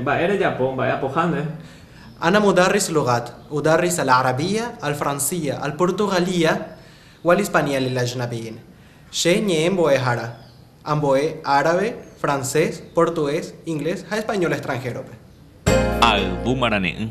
Mba'e rejapo, mba'e apohánde. Ana mudarris lugat, udarris al arabia, al fransia, al portugalia, wal hispania lil ajnabiin. Che ñe'ẽ mbo'ehára, ambo'e árabe, francés, portugués, inglés ha español extranjero-pe. Ayvu marane'ỹ.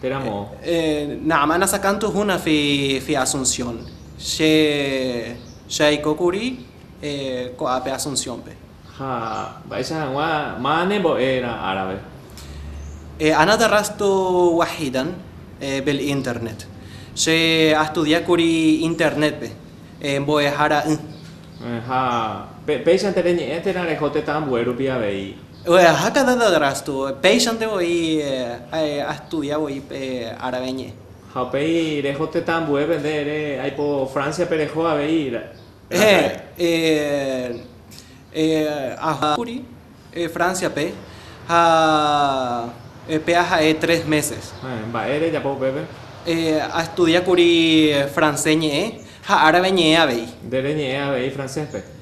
Térã moõ. Na'áma nasakãntu húna fi Asunción. Che aiko kuri ko'ápe Asunciónpe. Ha mba'éicha hag̃ua máva ne mbo'e rã árabe? Ana darrastu wahidan bil internet. Che astudia kuri Internetpe mbo'ehára ỹ. Ha péichante reñe'ẽ térã reho tetã ambue rupi avei. Ojejaha Canada Drastu, péichante voi astudia voi árabe ñe'ẽ. Ha upéi reho tetã ambuépe, nde ere aipo Francia-pe reho avei raka'e. He'ẽ, aha kuri Francia-pe ha pe aha'e tres meses. He'ẽ, mba'e rejapo upépe. He'ẽ, astudia kuri francés ñe'ẽ ha árabe ñe'ẽ avei. Nde reñe'ẽ avei francés-pe.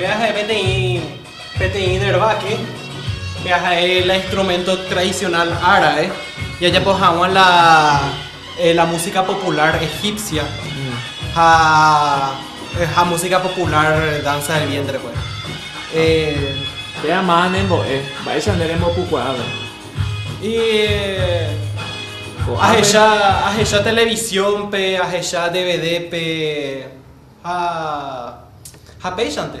Peaje peteĩ, peteĩ dervake, peaje la instrumento tradicional árabe, jajapo haguã la. La música popular egipcia ha ha música popular danza del vientre pues. Péva máva ne mbo'e, mba'éicha nde rembopukuaáva? Y ahecha, ahecha televisión-pe, ahecha DVD-pe ha ha péichante.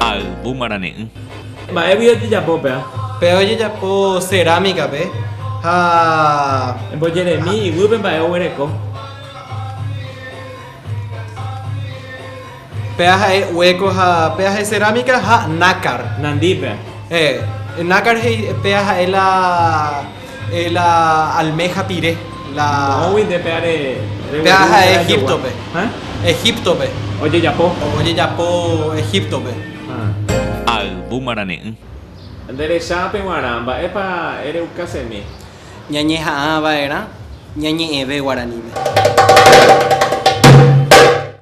Ayvu marane'ỹ. Mba'égui ojejapo péva. Péva ojejapo cerámica-pe ha. Embojeremi iguýpe mba'e oguereko. Péa ha'e hueco ha péa ha'e cerámica ha nácar. Nandi péa. Eh, nácar he'i péa ha'e la eh, la almeja pire. La... Mógui nde péa re, re Péa gueru ha'e térã jogua. Egíptope. Ha? Egíptope. Ojejapo. Ojejapo Egíptope. Ha. Ayvu marane'ỹ. Nde recha pe guarã, mba'épa ere ukasemi. Ñañeha'ã vaerã ñañe'ẽve guaraníme.